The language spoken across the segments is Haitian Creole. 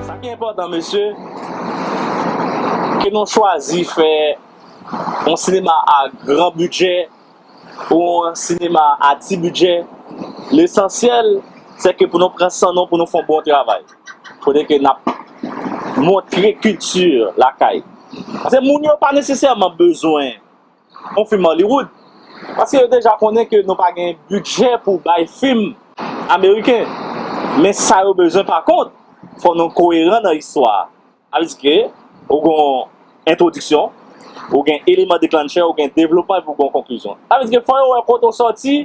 Sa ki enpòtan mesye, ke nou chwazi fè yon sinema a gran bidjè ou yon sinema a ti bidjè, lesansyèl se ke pou nou pran san nou pou nou fè yon bon travay. Kote ke n ap montre kilti lakay. Paske moun yo pa nesesèman bezwen. yon film Hollywood paske yo deja konnen ke nou pa gen bidjè pou bay film ameriken men sa yo bezwen pa kont fò nou koyeran nan istwa a sa vle di ke ou gen yon entwodiksyon ou gen eleman deklannchè ou gen devlopman epi ou gen yon konklizyon sa vle di ke fò yo wè kote ou sòti.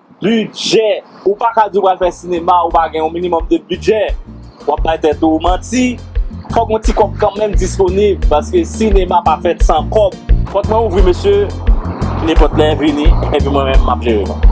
Bidjè! Ou pa ka di ou pral fè sinema ou pa gen yon minimòm de bidjè. W ap bay tèt ou manti. Fòk yon ti kòb kanmenm disponib paske sinema pa fèt san kòb. Pòt mwen ouvri mesye, nenpòt lè vini epi mwen menm m ap jere nou.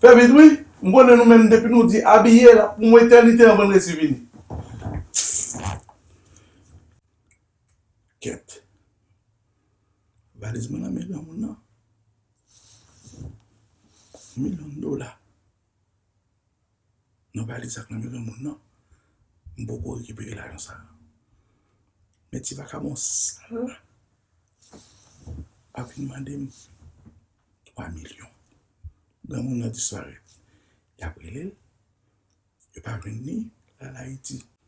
Fè vit wi, m konnen nou menm depi nou di abiye l ap pran yon etènite anvan l resi vini. Kèt. Valiz mwen nan men granmoun nan. Milyon dola. Mwen pale zak nan men granmoun nan, m poko rekipere lajan sa. Men ti vakabon sal la ap vin mande m 3 milyon. Granmoun nan disparèt. Y ap rele l, yo pa jwenn li, l al Ayiti.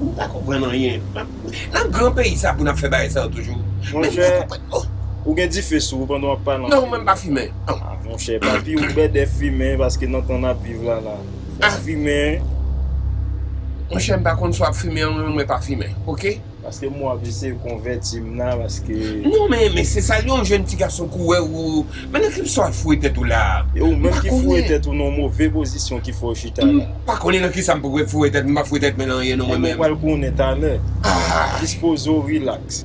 Mwen pa konprann anyen. Nan gran peyi sa pou nap fè bagay sa yo toujou. Mwen pa konprann oh. Ou gen dife sou ou pandan wap pale anpil. Non mwen pa fimen oh. Ah monchè papi ou bèdè fimen paske nan tan nap viv la la. Fòk fimen. Monchè mpa konn si wap fimen ou menm mwen pa fimen ok. Paske mwen ap eseye konvèti m nan paske. Non men men se sa yon jèn ti gason kouwè ou men nan ki sa wap foure tèt ou la. E ou menm ki foure tèt ou nan yon move pozisyon ki fè w chita la. M pa konnen nan ki sa m pou foure tèt m m pa foure tèt mwen nan anyen non mwen menm. Ebyen w pral konnen talè. Dispoze w relax.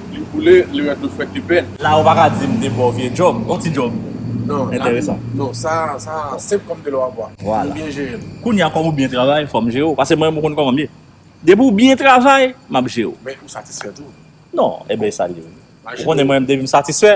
Li boule, li ret dlo frèt li pen. La ou pa ka di m de bon vye djòb, on ti djòb entèresan. Non, sa a senp kòm de lò a bwa. Vwala. M byen jere l. Kounye a kòm ou byen travay, fò m jere w. Pase mwen menm ou konn kòman m ye. Depi ou byen travay, m ap jere w. Men ou satisfè tou. Non, e ben e sa l ye. Ou konnen mwen menm depi m satisfè,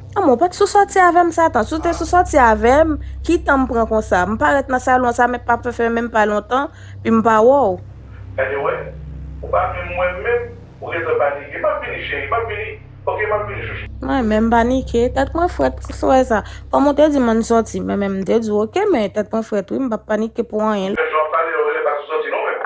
An men w pat sou sòti avè m Satan, si w te sou sòti avè m, ki tan m pran konsa? M parèt nan salon sa men pa fè menm pa lontan pi m pa wè w. Gade wè, ou pa vle m wè m menm, ou gentan panike. M ap vini cheri, m ap vini, ok m ap vini chouchou. Mwen menm panike, tèt mwen frèt pou swè sa. Kòm ou te di m ann sòti, mwen menm m te di w ok men tèt mwen frèt wi m pap panike pou anyen. Gad jan w ap pale, ou genlè pa sou sòti non menm.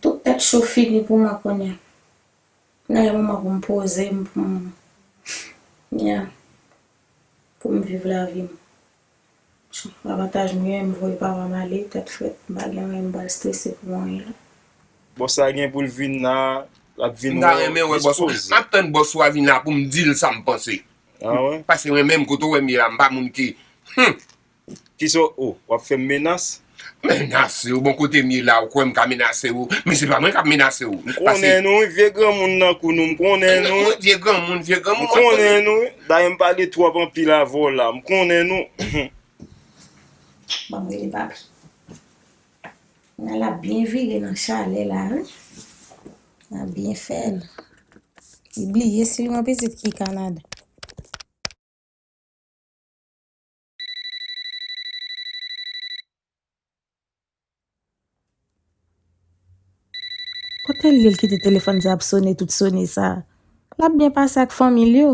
Tout tèt cho fini pou mwen kounye a. Nan yon moman pou m poze m pou m ya pou m viv lavi m. Avantaj m genyen m voye papa m ale tèt frèt m pa gen anyen m pral strese pou anyen la. Bon sa gen pou l vin la lap vin wè w dispose. Map tann bòs ou a vin la pou m di l sa m panse. Paske mwen menm kote w wè m ye la m pa moun ki humm. Kisa w oh wap fem menas. Menase w bon kote m ye la ou kwè m ka menase w men se pa mwen kap menase w. M konnen nou wi vye granmoun nan kou nou m konnen nou wi. Vye granmoun vye granmoun. M konnen nou wi dayè m pale twòp anpil avè w la m konnen nou humm. Banm rele papi. Nan lap byen vire nan chalè la wi. Nap byen fèl. Li bliye sil gen yon pitit ki Canada. Kote l ye l kite telefòn sa ap sone tout sone sa? L ap byen pase ak fanmi l yo.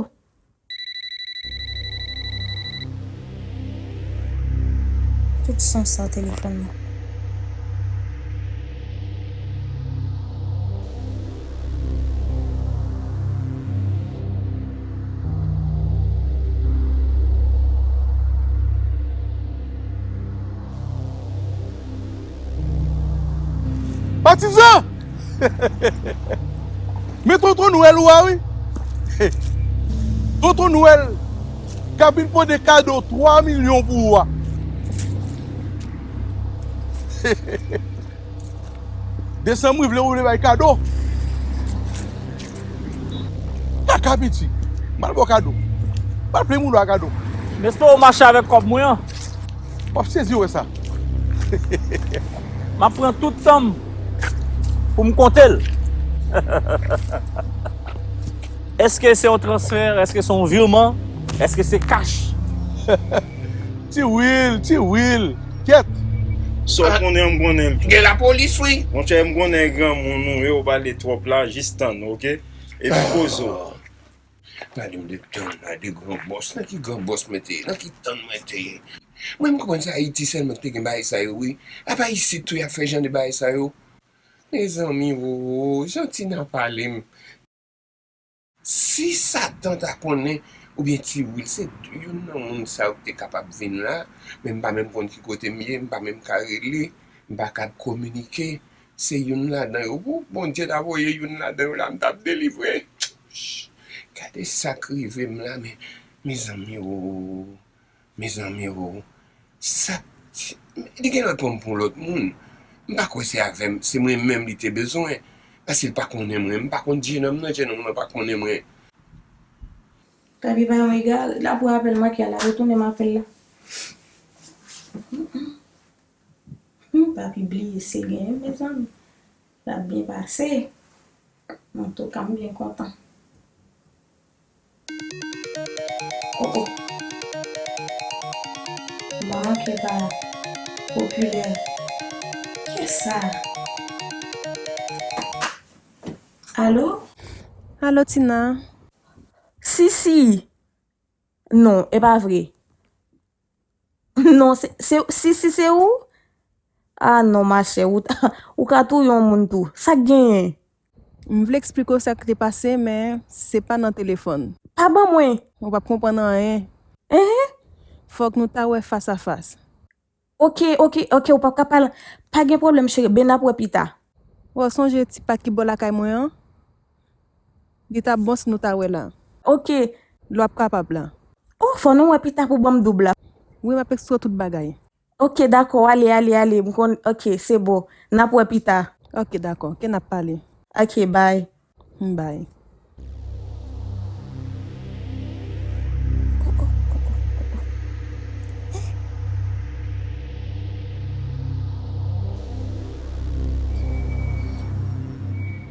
Tout son sa telefòn. Patizan! Men tonton nwèl ou a wi! Tonton nwèl kap vin pote kado 3 milyon pou ou a! Desanm wi vle ou vle bay kado Kaka piti Mal baw kado Mal plen moun ou a kado M espere w mache avèk kòb mwen an Wap sezi wè sa Map pran tout tan m pou m konte l Eske se yon transfè Eske se yon virman Eske se kach Ti Wil Ti Wil. Kèt! Sa w konnen an m konnen l tou. Gen lapolis wi. Monchè m konnen granmoun ou ye ou pale twòp la jis tann ou ok epi poze w. Gade m 2 tann la 2 gran bòs nan ki gran bòs mwen te ye nan ki tann mwen te ye mwen m konprann se ayiti sèlman ki te gen bagay sa yo wi apa isit tou y ap fè jan de bagay sa yo mezanmi oo jan tina pale m Si satan ta konnen oubyen ti wil se youn nan moun sa yo ki te kapab vin la, men m pa menm konn ki kote m ye, m pa menm ka rele, m pa kab kominike, se youn ladan yo woup Bondye ta voye youn ladan yo la m tap delivre chut gade sak rive m la men mezanmi ooh. Mezanmi oo sak li gen lè pranm pou yon lòt moun m pa kwè se avèm se mwen menm li te bezwen paske li pa konnen mwen m pa konn jenòm nan jenòm nan pa konnen mwen. Taby pa yon egare la pou apèl manke a la retounem apèl la humm papi bliye se genyen mezanmi lap byen pase antouka m byen kontan. Koko manke pa popilè kisa Alo? Alo Tina? Sisi! Non, e pa vre? Non se se sisi se ou? Ah non machè ou ka touye yon moun tou. Sak genyen? M vle eksplike w sak te pase men se pa nan telefòn. Pa ban mwen! Ou pap konprann anyen. Enhen! Fòk nou ta wè fas a fas. Ok ok ok ou pap ka pale. Pa gen pwoblèm cheri ben nap wè pita. Wè w sonje ti pat ki bò lakay mwen an? Li tap bon si nou ta wè la. Ok. Lè wap kapab la. Oh fò nou wè pita pou banm doub la. Wi map extro tout bagay. Ok dakò ale ale ale m konn ok se bon nap wè pita. Ok dakò ok nap pale. Ok bye. Hum bye.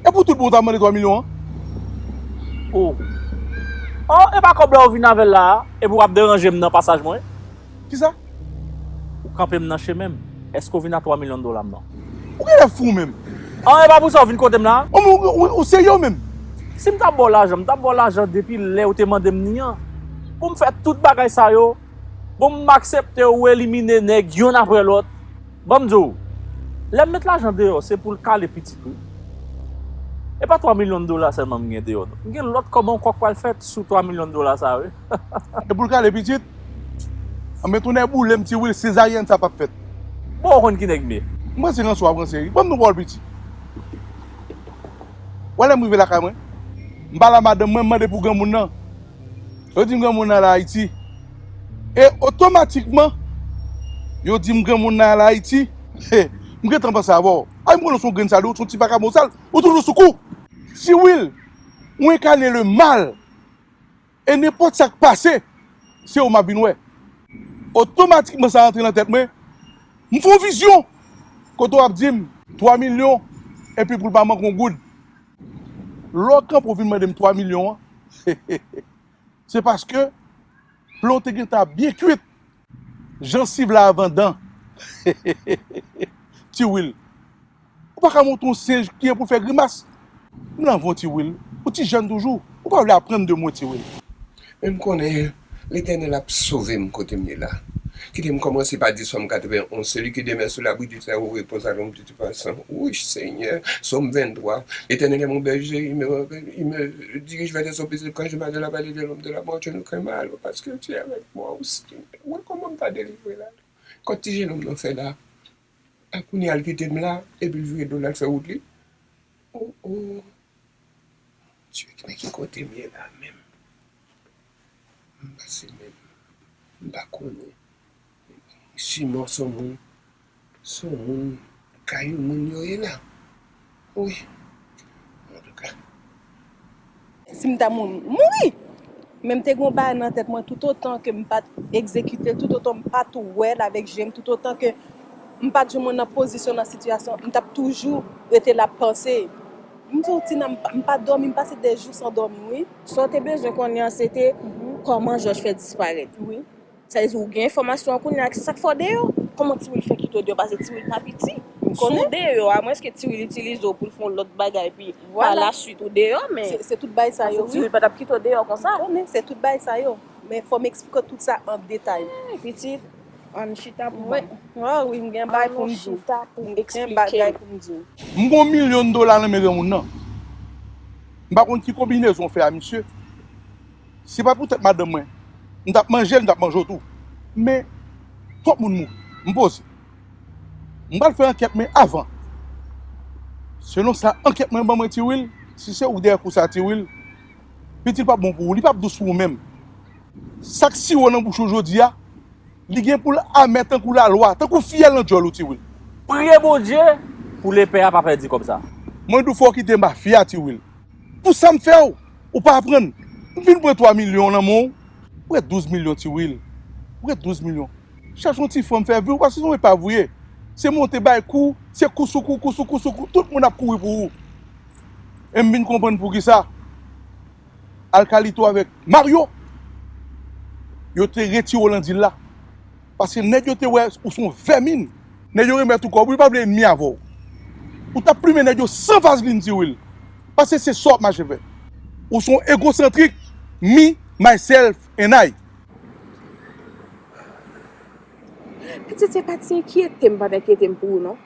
E pou tout bon ou ta mande 3 milyon an? Ohh oh epa kob la ou vin avel la a epi wap deranjem nan pasaj mwen? Kisa? Ou kanpem nan chemenm, eske ou vin a 3 milyon dolam nan? Ou genlè fou ou menm? Ohh epa pou sa ou vin kotem la a? Oh men ou serye ou menm? Sim ta baw lajan m ta baw lajan depi lè ou te mandem ni an? Poum fè tout bagay sa yo? Bon m aksepte ou elimine nèg yonn aprè lòt, ban m di w, lè m met lajan deyò se pou l kale pitit wi. E pa 3 milyon dola sèlman m gen deyò non. M gen lòt kòb ankò k pral fèt sou 3 milyon dola sa wi. E pou l kale pitit? Anben tonnè boule m ti Wil, sezaryèn sa pap fèt. Bon ou konn ki nèg m ye? M ranse ranse w ap ranse wi. Ban m nou pa w l piti. Wè lè m rive lakay mwen? M pa la madanm mwen, m mande pou granmoun nan. Yo di m granmoun nan al Ayiti. E otomatikman, yo di m granmoun nan al Ayiti. Hey, m gentan panse avè w. Ay m konnen w se yon grenn sal, ou se yon ti vakabon sal, ou toujou sou kou. Si wi, ou enkane le mal. E nenpòt sa k pase, se ou m ap vin wè. Otomatikman sa rantre nan tèt mwen, m fè yon vizyon kote w ap di m. 3 milyon, epi pou l pa manke yon goud. Lè w kanpe w vin mande m 3 milyon an, se paske ple w te gentan ap byen kuit, jansiv la avan dan. Ti Wil, ou pa ka montre yon senj kijan pou l fè grimas? M nan van w Ti Wil, ou ti jèn toujou, ou pa vle aprann de mwen Ti Wil. Men m konnen Letènèl ap sove m kote m ye la. Kite m kòmanse pa di Sòm 91, Seli ki demè sou labri di Sèwo repose a lonb di ti pwason. Wouch Senyè! Sòm 23, Letènèl è mon bèje, il me il me dirige vè de son pezib kan je mach dan la vale de lonb de la mò, je ne kren mal, paske tu è avèk mwa, ou Senyè. Wè kòman m ta delivre la! Kòt ti jenòm nan fè la? A kounye a l kite m la, epi l vire do l al fè wout li? O o! Dye ki men ki kote m ye la menm? M pa se menm. M pa konnen. Siman son moun, son moun kay yon moun yo ye la. Wi. Antouka. Si m ta mouri, m mouri! Men m te gen yon bagay nan tèt mwen toutotan ke m pa t egzekite l, toutotan m pa t wè l avèk je m, toutotan ke m pa t joumou nan pozisyon, nan sitiyasyon, m t ap toujou rete la panse. M di w, Tina, m pa dòmi, m pase dè jou san dòmi wi. Sa w te bezwen konnen an se te kòman Jòj fè disparèt. Sa vle di ou gen enfòmasyon an kounye a ak se sa k fè w deyò. Kòman Tiwil fè kite w deyò pase Tiwil pa piti. Si w deyò a mwens ke Tiwil itilize w pou l fè yon lòt bagay epi pa la swit ou deyò men pase Tiwil pa t ap kite w deyò konsa. Se tout bagay sa yo. Men fò m esplike w tout sa an detay. Eey pitit an n chita pou m. An wi m gen bagay pou m di w. An nou chita pou m esplike w. M gen yon milyon dola nan men granmoun nan. M pa konn ki konbinezon w fè a misye. Si pa pou tèt madanm mwen, m tap manje l, m tap manje w tou. Men, twòp moun mouri. M poze. M pral fè ankèt men avan, selon sa ankèt mwen ban mwen Tiwil, si se ou ki dèyè kou sa Tiwil, pitit pap bon pou ou, li pap dous pou ou menm. Sak siwo nan bouch ou jodia li gen poul amè tankou lalwa tankou fiyèl nan djòl ou ti wil. Priye bondye pou lepè a pa pèdi kòb sa. Mwen di w fò w kite mafya ti wil. Pou sam fè w ou pa aprann. M fin pran 3 milyon nan men w ou ret 12 milyon ti wil. Ou ret 12 milyon. Chache yon ti fanm fè vi w paske se yon epav ou ye. Se monte bay kou se kou sou kou kou sou kou sou kou tout moun ap kouri pou ou. E m vin konprann poukisa. al kalito avèk Mario yo te retire w lan dil la paske nèg yo te wè ou se yon vèmin. Nèg yo remèt ou kòb ou yo pa vle enmi avè w ou tap plimen nèg yo san vazlin di wil paske se sa wap mache fè. Ou se yon egosantrik me, myself and I. Pitit se pa ti enkyete m pat enkyete m pou ou non.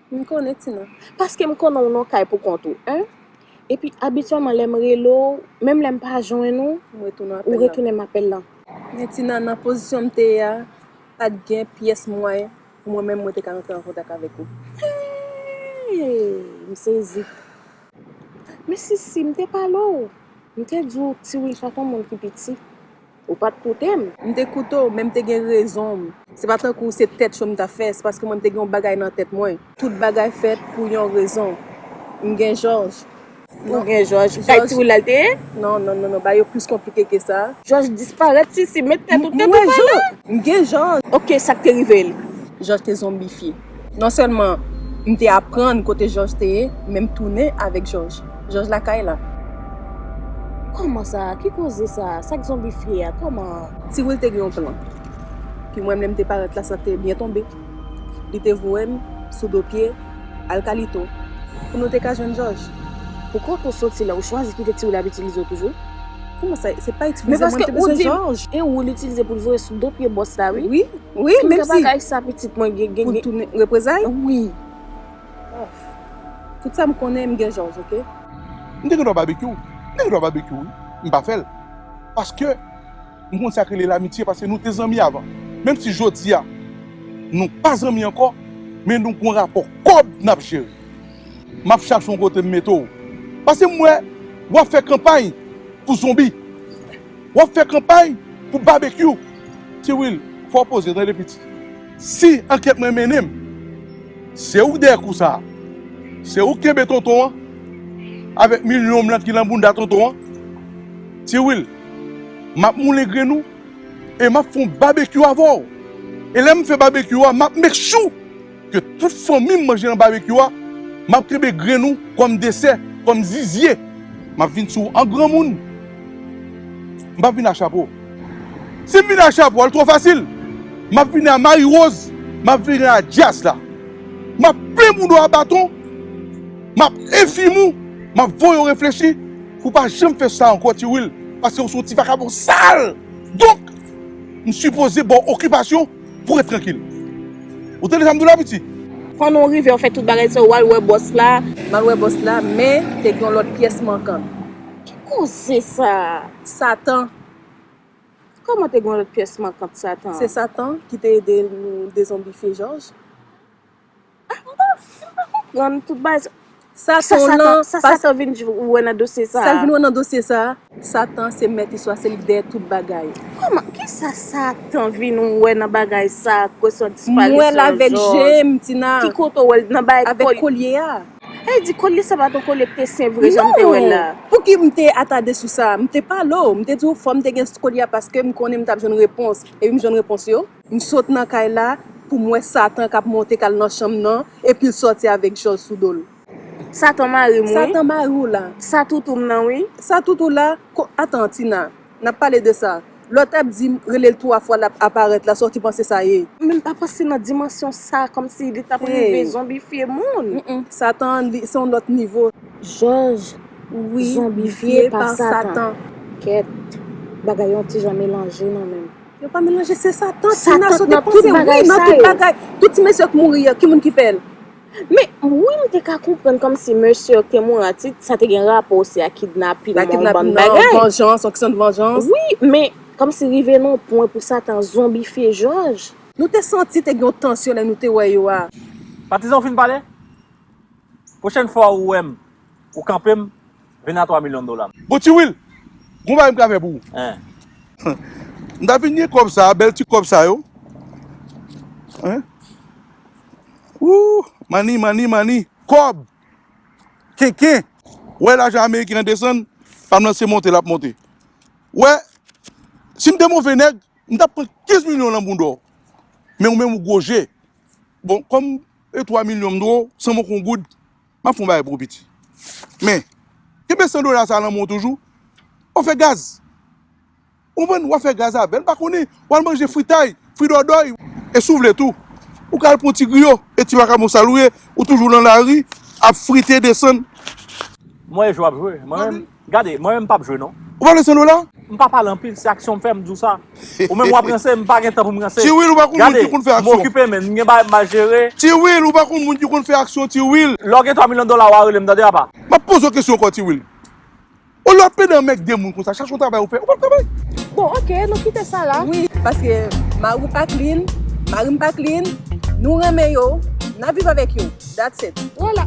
M konnen ti non. Paske m konnen w nan kay pou kont ou 1. Epi abityèlman lè m rele w, menm lè m pa jwenn ou, ou retounen m apèl lan. Men ti nan, nan pozisyon m te ye a, pa t gen pyès mwayen pou mwen menm mwen te ka rantre an kontak avèk ou. Hee! M sezi. Men Sisi, m te pale w. M te di w Tiwil pa t yon moun ki piti. Ou pa t koute m. M te koute w, men m te gen rezon m. Se pa tankou se tèt cho m t ap fè, se paske mwen m te gen yon bagay nan tèt mwen. Tout bagay fèt pou yon rezon. M gen Jòj. Ou gen Jòj? Kay ti Woul la l te ye? Non, non, non, non, bagay yo plis konplike ke sa. Jòj disparèt, Sisi. Met tèt ou tèt ou pa la. M gen Jòj. Ok, sa k te rive l? Jòj te zonbifye. Non sèlman m te aprann kote Jòj te ye, men m tounen avèk Jòj. Jòj lakay la. Kòman sa? Ki koze sa? Sa k zonbifye a? Kòman? Ti Wil te gen yon plan. Pi mwen menm m te parèt la sa te byen tonbe. Li te voye m sou do pye al kalito pou nou te ka jwenn Jòj. Pou kote w soti la, ou chwazi kite Ti Wil ap itilize w toujou? Kouman sa se pa eksplize mwen te bezwen George. E ou l itilize pou l voye sou do pye bòs la wi. Wi wi menm si. Kèk bagay sa pitit mwen gen gen. Pou l tounen reprezay. Wi. Tout sa m konnen m gen George ok. M te gen dwa babekyou m te gen dwa babekyou wi m pa fè l paske m konn sa k rele lamitye paske nou te zanmi avan menm si jodi a nou pa zanmi ankò men nou gon rapò kòb n ap jere. Map chache yon kote m mete w. Paske m wè wap fè kanpay pou zonbi. Wap fè kanpay pou babekyou. Ti Wil, fò w poze tande piti. Si ankèt mwen mennen m, se ou k dèyè kou sa a. Se ou k kenbe tonton an avèk milyon blan ki lan bounda tonton an. Ti Wil, map moulen grenn ou e map fè yon babekyou avè w. E lè m fè babekyou a map make sure. Ke tout fanmi m manje nan babekyou a, m ap kenbe grenn ou kòm desè, kòm zizye. M ap vin sou ou an granmoun, m p ap vin a chapo. Si m vin a chapo a, l twò fasil. M ap vini a mariwoz, m ap vini a djaz la. M ap plen moun ou a baton, m ap enfim ou, m ap voye ou reflechi pou w pa janm fè sa ankò Ti Wil, paske ou se yon ti vakabon sal. Donk, m sipoze ba w okipasyon. Pou ret trankil. Ou tande sa m di w la piti? Fann ou rive ou fè tout bagay sa ou al wè bòs la. M al wè bòs la men te gen yon lòt pyès mankan. Ki koze sa a? Satan. Kòman te gen yon lòt pyès mankan? Satan. Se Satan ki te ede nou dezonbifye Jòj. Sa Satan vin wè nan dosye sa a? Sa l vin wè nan dosye sa a? Satan se mèt istwa, se li ki dèyè tout bagay. Kòman? Ki sa Satan vin wè nan bagay sa a, kesyon disparisyon Jòj? M wè l avèk je m, Tina. Ki kote ou wè l? Nan bagay kolye? Avèk kolye a. Sa vle di kolye sa pa t yon kolye ki te sen vre jan m te wè l la? Non! Pouki m te atade sou sa? M te pale w, m te di w fò m te gen kolye a paske m konnen m t ap jwenn repons. Epi m jwenn repons yo. M sot nan kay la pou m wè Satan k ap monte k al nan chanm nan epi l sòti avèk jòl sou do l. Satan mari m wi. Satan mari w la. Sa toutou m nan wi. Sa toutou la? Ko, atan Tina, n ap pale de sa. Lòt ap di m rele l twa fwa l ap aparèt la, sa w te panse sa ye? Men m pa panse nan dimansyon sa, kòmsi li t ap rive zonbifye moun. N, n, Satan an li se yon lòt nivo. Jòj, Wi, zonbifye pa Satan. Kèt, bagay yo yon ti jan melanje nan men m. Yo pa melanje se satan ti nasyon te panse wi nan tout bagay tout ti mesye yo k mouri yo ki moun ki fèl. Men wi m te ka konprann kòmsi mesye yo k te mouri an ti sa te gen rapò osi ak kidnapin nan yon bann bagay nan vanjans yon kesyon de vanjans wi men kòmsi rive nan yon pwen pou satan zonbifye jòj. Nou te santi te gen yon tansyon lè nou te wè yo a. Patizan ou fin pale? Pwochèn fwa ou wèm Ou kanpe m, vin a 3 milyon dola m. Bon ti Wil, gon bagay m ka fè pou ou. Anh. M ta vin gen kòb sa a, bèl ti kòb sa yo. Anh. Ooh, money, money, money. Kòb! Kenken! Ou wè lajan ameriken an desann, pa m lan se monte l ap monte. Ou wè, si m te move nèg, m ta pran 15 milyon lan bounda w. Men ou menm ou gwo je. Bon, kòm e 3 milyon m dwe w, san m oko yon goud, M ap fè yon bagay pou ou piti. Men, kenbe 100 dola sa a nan men w toujou. W ap fè gaz. Ou konprann? W ap fè gaz avè l. M pa konnen. W al manje fritay, fridòdòy. E si w vle tou, ou ka al pran yon ti griyo. E ti makabon sa l ou ye? Ou toujou nan lari ap frite desann. M wè jan w ap jwe. Mwen menm, Gade, mwen menm m pap jwe non. Ou pa vle solo la? M pa pale anpil, se aksyon m fè m di w sa. Ou menm w ap ranse, m pa gen tan pou m ranse. Gade, m okipe men, m gen bagay m ba jere. Ti Wil, ou pa konn moun ki konn fè aksyon ti Wil. Lè w gen 3 milyon dola w a rele m tande apa. M ap poze w kesyon ankò ti Wil. Olye w ap plede anmègde moun konsa, chache yon travay ou fè, ou pa p travay? Bon ok, nou kite sa la. Wi, paske mari w pa clean, mari m pa clean, nou renmen yo, n ap viv avèk yo, that's it. Wala.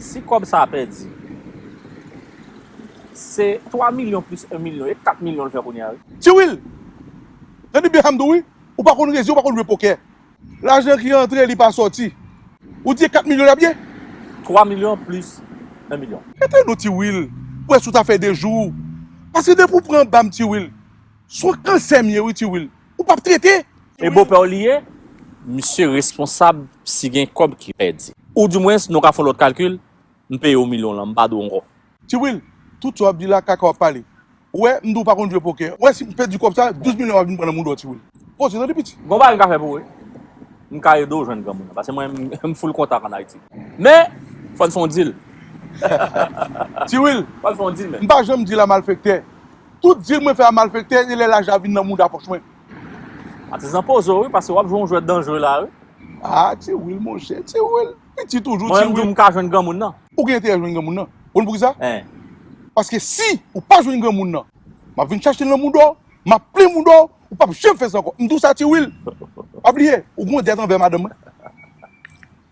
Si kòb sa a pèdi, se 3 milyon plis 1 milyon, e 4 milyon l fè kounye a wi. Tiwil! Jan di Beham tou wi, ou pa konn rezi, ou pa konn jwe pokè. Lajan ki antre li pa sòti. Ou di e 4 milyon lap ye? 3 milyon plis 1 milyon. Mete nou ti Wil, wè si w ta fè 2 jou. Paske depi w pran bam ti Wil, son kansè m ye wi ti Wil. Ou pap trete. E bopè w li ye? Misye responsab si gen kòb ki pèdi. Ou di mwen si nou ka fon lòt kalkil, m peye w milyon lan, m pa dwe w ankò. Ti Will, tout sa wap di la kaka wap pale. Ou wè, m di w pa konn jwe pokè. Ou wè si m pèdi kòb sa, 12 milyon wap vin pran nan moudon Ti Will. Poze tande piti. Gon bagay m ka fè pou ou wi. M ka ede w jwenn granmoun nan. Pase mwen, m full kontak an Ayiti. Men, fò n fè yon deal. Ti Will, m pa janm deal a malfektè. Tout deal mwen fè a malfektè e lè lajan an vin nan mouda pòch mwen. Atizan poze w wi, pase wap jwe yon jwèt danjre la wi. Ah Ti Will monchè, Ti Will. Piti toujou Mwen ti menm tou wi. m ka jwenn granmoun nan. Ou gen enterè jwenn granmoun nan. Ou konn poukisa? Hein. Paske si ou pa jwenn granmoun nan, m ap vin chache l nan mouda w, m ap plen mouda w, ou p ap janm fè sa ankò. M di w sa ti Wil. Pa bliye, ou gen yon dèt anvè madanm mwen.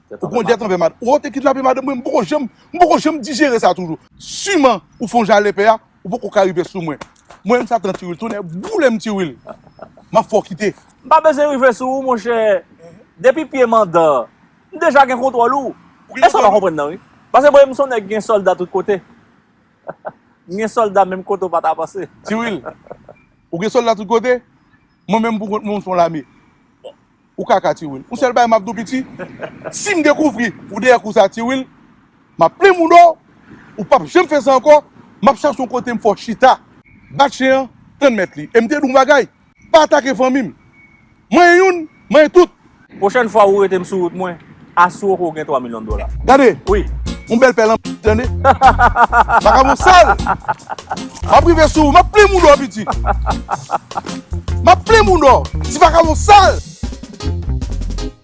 Dèt Ou gen anvè yon dèt madanm. anvè madanm mwen. Ou te kidnape madanm mwen, m poko janm, m poko janm dijere sa toujou. Siman ou fè yon jan lèpè a, ou poko ka rive sou mwen. Mwen menm satan ti Wil, tonnè boule m ti Wil. M ap fè w kite. M pa bezwen rive sou ou monchè. Depi pye mandan M deja gen kontwòl ou. E sa w pa konprann nan wi. Pase bon e m son nèg gen sòlda tout kote. M gen sòlda menm kote w pa ta panse. Ti Wil, Ou gen sòlda tout kote? Mwen menm pou kont mwen m son lame. Ou kaka Ti Wil. Yon sèl bagay m ap di w piti, si m dekouvri ou dèyè kou sa Ti Wil, m ap plen mouda w, ou p ap janm fè sa ankò, m ap chache yon kote m fè w chita. Bat chen an, tann mèt li. E m te di w yon bagay? Pa atake fanmi m. Manyen youn, manyen tout. Pwochèn fwa ou rete m sou wout mwen, asire w ke w gen 3 milyon dola. Gade! Yon bèl pè lanmèd tande. Vakabon sal! M ap rive sou ou, m ap plim ou dò piti. M ap plim ou dò, ti vakabon sal!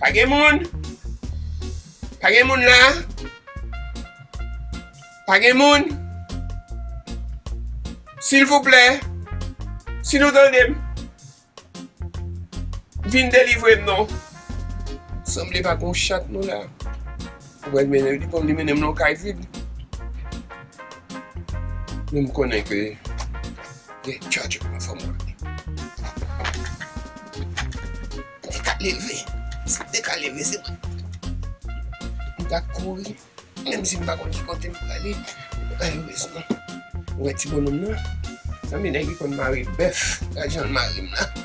Pa gen moun? Pa gen moun la? Pa gen moun? Silvouplè, si nou tande m, vin delivre m non. Sanble pa gen yon chat nou la. Mwen mennen li konn li mennen m nan kay vid. Men m konnen ke gen tchatch pou mwen fò mwen. Te ka leve. Se te ka leve se mwen. M ta kouri. Menm si m pa konn ki kote m prale. Ayo res mwen. Mwen ti bononm nan. San mi nèg li konn mare bèf. Ajan l mare m nan.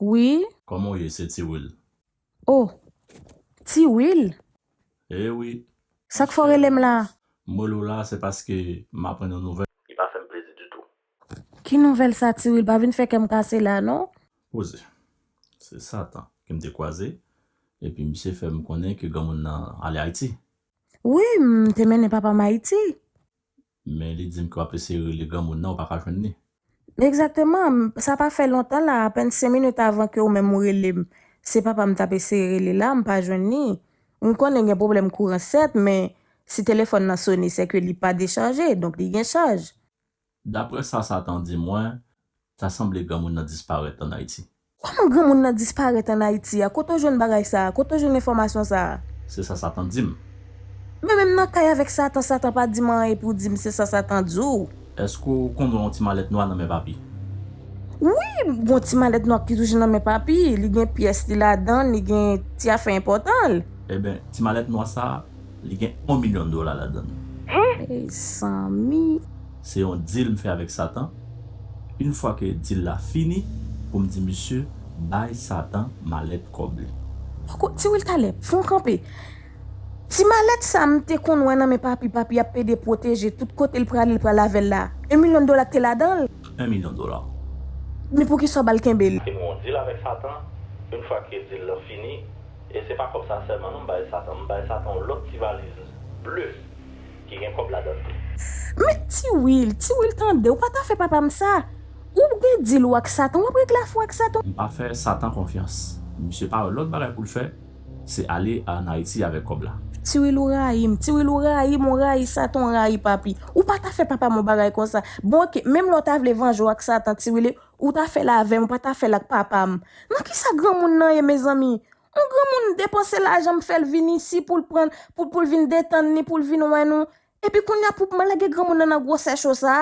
Wi. Kòman w ye? Se Ti Wil. O! Ti Wil? E wi. Sa k fè w rele m la a? M rele w la a se paske m aprann yon nouvèl. Li pa fè m plezi ditou. Ki nouvèl sa Ti Wil? Pa vin fè kè m kase la a non. Poze. Se Satan ke m te kwaze epi misye fè m konnen ke granmoun nan ale Ayiti. Wi, m te mennen papa m Ayiti. Men li dim ke wap eseye rele granmoun nan ou paka jwenn li. Exactement, sa pa fè lontan la, apèn 5 minutes avan ke ou menm ou relem, se papa m tap eseye rele la, m pa jwenn li. M konnen gen pwoblèm kouran sèt, men si telefòn nan sone sè ke li pa dechaje, donk li gen chaj. Daprè sa Satan di mwen, ta sanble granmoun nan disparèt an Ayiti. Koman granmoun nan disparèt an Ayiti a? Kote w jwenn bagay sa a? Kote w jwenn enfòmasyon sa a? Se sa Satan di m. Mwen menm nan kay avèk Satan, Satan pa di m anyen pou di m se sa Satan di w. Èske w konnen w gen yon ti malèt nwa nan men Papi? Wi, m gen yon ti malèt nwa ki toujou nan men Papi. Li gen pyès li ladan l, li gen ti afè enpòtan l. Eben, ti malèt nwa sa a. Li gen 1 million dola ladann. Mezanmi! Se yon deal m fè avèk Satan, une fwa ke deal la fini pou m di misye bay Satan malèt kòb li. Poko di wi l talè. Fon kanpe. Ti malèt sa m te konn wè nan men Papi, Papi ap pede pwoteje tout kote l prale l pral avè l la. 1 million dola te ladan l. 1 million dola. Men poukisa w ba l kenbe l? Se yon deal avèk Satan, une fwa ke deal la fini. E se pa kòb sa sèlman non m bay Satan, m bay Satan yon lòt ti valiz ble ki gen kòb ladann tou. Men Ti Wil, Ti Wil tande, ou pa ta fè papa m sa! Ou gen dil ou ak Satan, w ap regle afè w ak Satan. M pa fè Satan konfyans. Misye pa wè lòt bagay pou l fè, se ale ann Ayiti avèk kòb la. Ti Wil ou rayi m, Ti Wil ou rayi m, ou rayi Satan, ou rayi Papi. Ou pa ta fè papa m yon bagay konsa. Bon oke, menm lè w ta vle vanje w ak Satan Ti Wil, Ou ta fèl avèm ou pa ta fèl ak papam nan kisa granmoun nan ye mezanmi on granmoun depanse lajanm fèl vin isi poul pran pou poul vin detann li poul vin wè nou epi kounya pou kman lage granmoun nan nan gwosè cho sa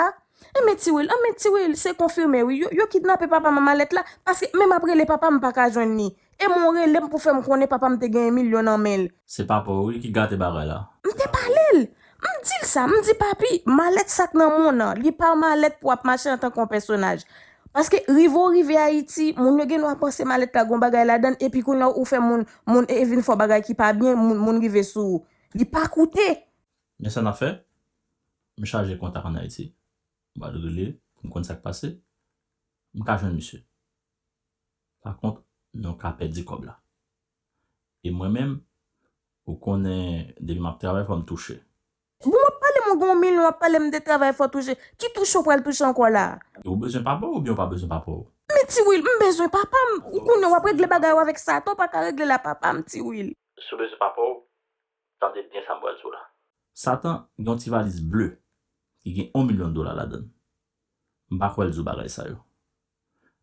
enben ti wil anben ti wil se konfime wi yo yo kidnape papa mama lèt la paske menm ap rele papam mpaka jwenn li E mwen rele m pou fè m konnen papa m te genyen milyon nan men l. Se papa w wi ki gate bagay la. M te pale l. M di l sa. M di papi, malèt sa k nan monn nan, li pa malèt pou ap mache antanke yon pèsonaj. Paske rive w rive Ayiti, moun yo gen dwa panse malèt la gon bagay ladan l epi kounye a ou fè moun, moun e vin fè w bagay ki pa byen, moun, moun rive sou ou. Li pa koute. Men sa n ap fè, m chaje kontak ann Ayiti. M al rele pou m konn sa k pase. M ka jwenn misye. Pa kont nou ka pèdi kòb la. E mwen menm ou konnen depi map travay fòm touche. Bon wap pale mwen gen yon milyon wap pale m de travay fò touche. Ki touche ou pral touche ankò la a? Ou bezwen papa w oubyen ou pa bezwen papa w? Men ti Wil, m bezwen papa m. Ou konnen wap regle bagay ou avèk Satan ou pa ka regle l a papa m ti Wil. Si w bezwen papa w, tande byen sa m pral di w la. Satan gen yon ti valiz ble ki gen yon milyon dola ladan l. M pa kwè l di w bagay sa yo.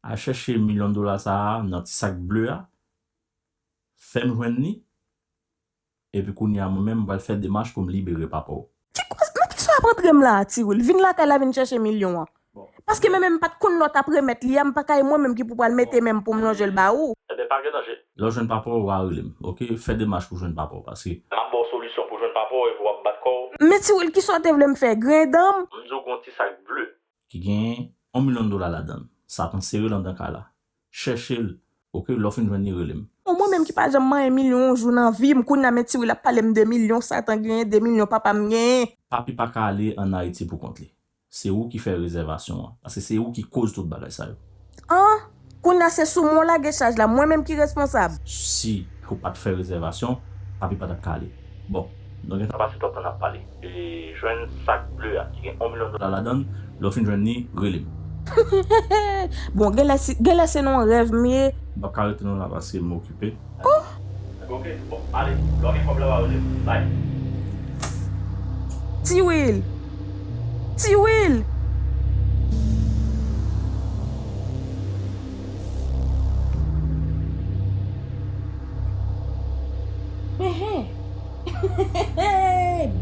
Al chèche milyon dola sa a nan ti sak ble a, fè m jwenn li, epi kounye a mwen menm m pral fè demach pou m libere papa w. Ki koze? Men kisa w ap antre m la a, Ti Wil? Vin lakay la vin chèche milyon an. Paske men menm m pa t konn lè w t ap remèt li a, m pa ka e mwen menm ki pou pral mete men m pou m lonje l ba ou. Enben, pa gen danje. Lè w jwenn papa w, w a rele m, ok? Fè demach pou w jwenn papa w, paske. M ap ba w solisyon pou w jwenn papa w epi w ap bat kò w. Men Ti Wil, kisa w te vle m fè? Griyen dan m? M di w gen yon ti sak ble ki gen yon milyon dola ladan l. Sa pran sere l andan kay la. Chèche l ok lè w fin jwenn li rele m. O mwen menm ki pa janm manyen milyon yon jou nan vi m kounye a men ti wil ap pale m de milyon satan genyen de milyon papa m genyen. Papi paka ale an Ayiti pou kont li. Se ou ki fè rezèvasyon an. Paske se ou ki koz tout bagay sa yo. An! Kounya se sou mwen w lage chaj la, mwen menm ki responsab. Si ou pat fè rezèvasyon, papi pa tap ka ale. Bon, nou gentan pase twòp tan nap pale. Jwenn sak ble a ki gen 1 milyon dola ladann, lè w fin jwenn li, rele m. Bon, genlè se nan yon rèv m ye. M pap ka rete non la paske m okipe. Tiwil! Tiwil!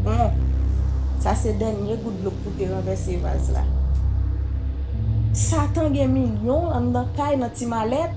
Bon! Sa se dènye gout dlo k pou te ranvèse vaz la. Satan gen milyon anndan kay nan ti malèt.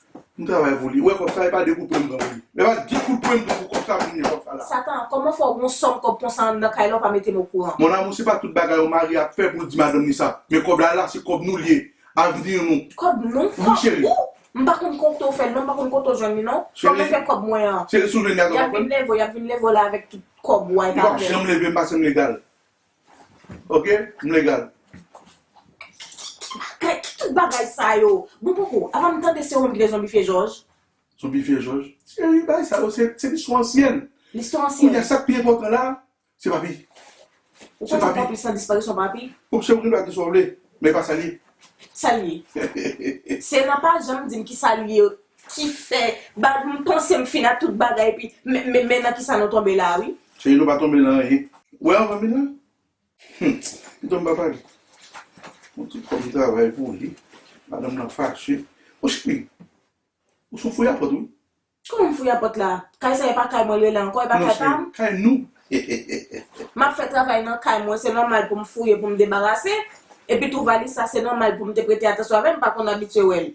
M travay pou li. Ou wè kòb sa e pa de kout pwen m pran pou li. Epa de kout pwen m pran pou kòb sa pou m gen kòb sa la. Satan, kòman fè w gon sòm kòb konsa an nan kay la ou pa mete m okouran? Mon amour se pa tout bagay yon mari ap fè pou l di madanm li sa. Men kòb la la se kòb nou li ye. Avenir nou. Kòb nou? Wi cheri. Kòb ou? M pa konn kote w fè l non, m pa konn kote w jwenn li non. Cheri. Kòman fè kòb mwen an? Cheri si w jwenn li a sa w ap fè? Yap vin leve w, yap vin leve w la avèk tout kòb ou a e pa avè m. Li pap janm leve m pa sem legal. Ok m legal. Kay ki tout bagay sa yo. Bon poko apa m tande se ou menm ki te zonbifye jòj. Zonbifye jòj? Seri bagay sa yo se listwa ansyen. Listwa ansyen. Kounye a sak pi enpòtan la se papi. Ou panse papi plis nan disparisyon papi? Ou se ou ki dwe di sa w vle men e pa sa l ye. Sa l ye? Se nan pa janm di m ki sa l ye Ki fè bag m panse m fin ak tout bagay epi men men nan kisa nou tonbe la wi. Cheri nou pa tonbe nan anyen. Ou wè anvan min la? Humm pito m pa pale. Bon tout kòm m travay pou li madanm nan fache. Bon cheri ou son fouyapòt wi. Kòman m fouyapòt la? Kay sa e pa kay mwen l rele ankò e pa kay pa m? Non cheri kay nou heheheh. M ap fè travay nan kay mwen se nòmal pou m fouye pou m debarase epi tou valis sa se nòmal pou m te prete atansyon avè l m pa konn abitye wè l.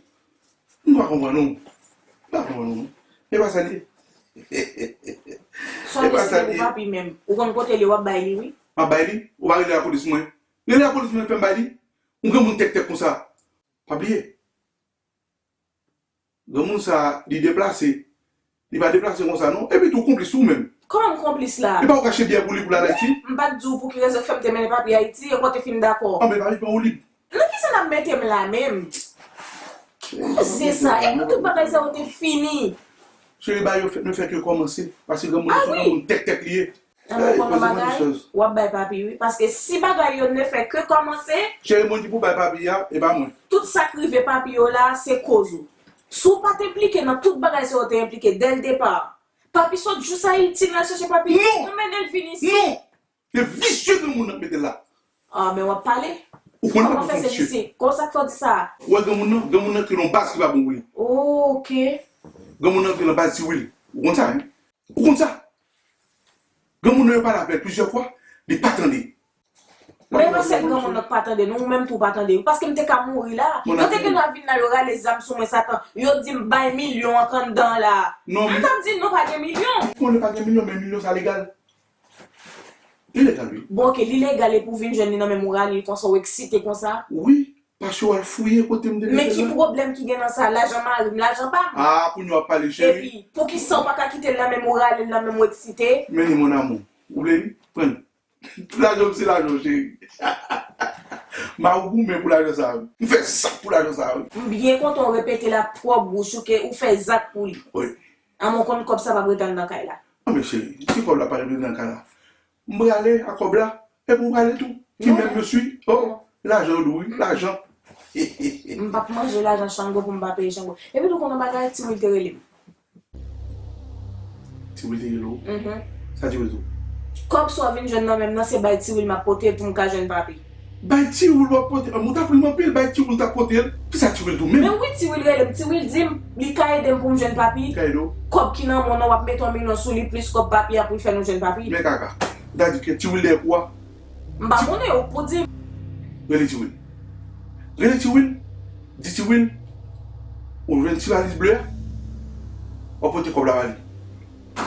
M pa konprann ou. M pa konprann ou non. E pa sa l ye? Sòl di se pou papi menm. Ou konn kote l ye w ap bay li wi. M ap bay li? Ou pa rele lapolis mwen? Rele lapolis mwen fè m bay li? Ou granmoun tèktèk konsa? Pa bliye. Granmoun sa li deplase. Li pa deplase konsa non. Epi tou konplis ou menm. Kòman m konplis la? Epa ou kache biyè pou li pou l al Ayiti? M pa t di w pou ki rezon k fè m te mennen papi Ayiti, e kon w te fin dakò? Anben papi pran Woulib. Nan kisa n ap mete m la menm? Koze sa yo. Nan tout bagay sa yo te fini. Cheri ba yo fèt men fèt yo kòmanse. Pase granmoun nan son granmoun tèktèk li ye. Ebyen ou konn yon bagay, wap bay papi wi, paske si bagay yo ne fè ke kòmanse. Cheri moun ki pou bay papi a, e pa mwen. Tout sak rive papi yo la se koz ou. Si w pat enplike nan tout bagay sa yo te enplike dè l depa. Papi sot jous Ayiti li al chache papi yo, ou mennen l vin isi. Non! Se visye granmoun nan k mete l la. Ah men wap pale. Ou konn papi w son visye. Kon sak fè w di sa? Ou wè granmoun nan, granmoun nan kreye yon baz ki pa bon pou li. Ok. Granmoun nan kreye yon baz ti Wil. Ou konn sa wi. Ou konn sa? Granmoun nan yo pale avèl plizyè fwa li pa tande. Men non sèl granmoun nan k pa tande nou ou menm tou ou pa tande wi paskem te ka mouri la yo te gentan vin la yo rale zam sou mwen satan yo dim bay milyon an k anndan an la mwen tap di non pa gen milyon. M konnen pa gen milyon men milyon sa legal. Li legal wi. Bon ok li legal epi ou vin jwenn li nan men moura li konsa ou eksite konsa. Wi Pase w al fouye kote m te mete l la. Men ki pwoblèm ki gen nan sa? Lajan mari m, lajan pa m. Ah kounye w ap pale cheri. Epi, poukisa w pa ka kite l nan men m ou rale l nan men m ou eksite? Men li mon amour. Ou vle li? Pran li. Tout lajan m se lajan w cheri. Mari w goumen pou lajan sa wi. M fè zak pou lajan sa wi. M byen kontan w repete l ak twòp bouch ou ke ou fè zak pou li. Wi. Amon konn kòb sa pap ret al nan kay la. Anben cheri, si kòb la pa ret nan kay la, M prale a kob la epi ou prale tou ti menm yo si oh lajan yo dou wi lajan hehehe. M pap manje lajan shango pou m pa peye shango. Epi tou w konn yon bagay ti wil te rele m. Ti wil te rele w? Sa ti wil di w? Kob sa w vin jwenn nan menm nan se bay ti wil map pote pou m ka jwenn papi. Bay tiwil wap pote anm ou tap rim anpil bay tiwil tap potel kisa tiwil tou menm. Men wi tiwil relem tiwil dim li ka edem poum jwenn papi kòb ki nan mwen an wap met 1 milyon souli plis kòb papi a poul fè nou jwenn papi. Men kaka. Ou ta di ke tiwil dèyè kou a. M pa konnen ou k pou dim. Rele tiwil. Rele tiwil di tiwil ou jwenn ti valiz ble a wap pote kòb la bali.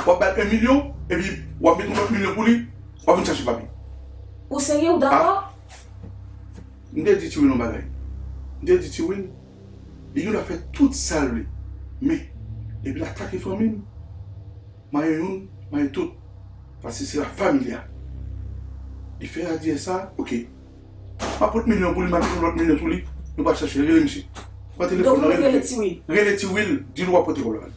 Wap bal 1 milyon epi wap met yon lot milyon pou li wap vin chache papi. Ou serye ou dakò? M te di Tiwin yon bagay. M te di Tiwin li gen dwa fè tout sa l vle men depi l atake fanmi m, maye youn, maye tout. Paske se la familia. Li fè Adyè sa, ok. Map pot milyon pou li map pot lòt milyon pou li Nou pa chache rele misye Pran telefòn nan rele tiwil Rele tiwil dil wap pote kòb la bann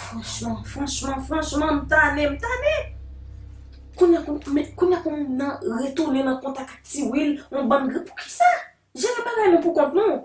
Franchman franchman franchman m tane m tane Kounya pou m men kounya pou m nan retounen nan kontak ak tiwil yon bann gri poukisa Jere bagay nou poukont nou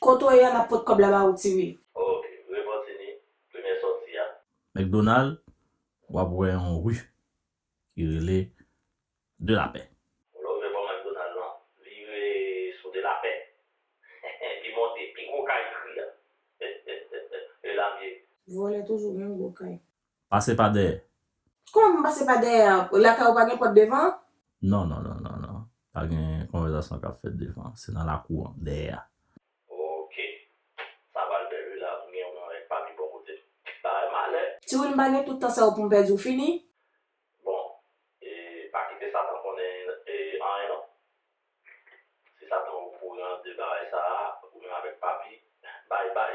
Kote w ye a nap pot kob la ba ou ti wil. Ok repanti ni premye soti a. McDonald wap wè yon rue ki rele de la paix. Ou love bò McDonald lan. Vire sou de la paix epi monte pi gwo kay kri a. Elamie. Vòlè toujou menm gwo kay. Pase pa dèyè. Kòman m pase pa dèyè a? Lakay ou pa gen pòt devan an? Non, non, non, non, non. Pa gen konvèzasyon k ap fèt devan an. Se nan lakou an, dèyè a. Ok. Sa pral bèl wi la. M gen yon anrèk pa pi bon kote m. Bagay malè! Ti Win m pa gen tout tan sa yo pou m pèdi w fini. Bon, e pa kite Satan konnen anyen non. Si Satan okouran de bagay sa a, ou menm avèk Papi, bay bay.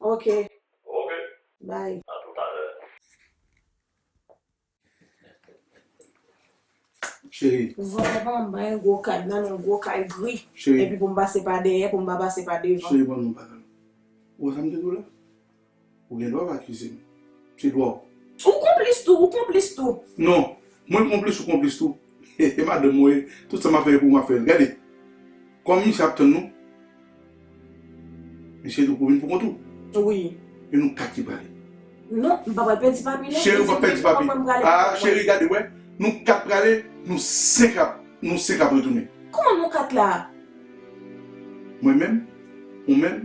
Ok. Ok. Bye. A tout a lè. Cheri. Vòlè pa m ban yon gwo kad nan yon gwo kay gri. Cheri. Epi pou m pase pa dèyè pou m pa pase pa devan. Cheri ban m yon baga. Ou wè sa m te di w la? Ou gen dwa pa akize m. Se dwa w. Ou konplis tou, ou konplis tou. Non. Mwen konplis ou konplis tou. Hehe madanm mwen tout sa map fè pou map fèl gade kòman misye ap tann nou misye tou pou vin pou kont ou wi. Men nou kaki prale. Non, m pa pral pèdi papi non. Cheri ou pap pèdi papi. Haa cheri gade wè nou 4 prale nou 5 ap nou 5 ap retounen. Kòman nou 4 la? Mwen menm, ou menm.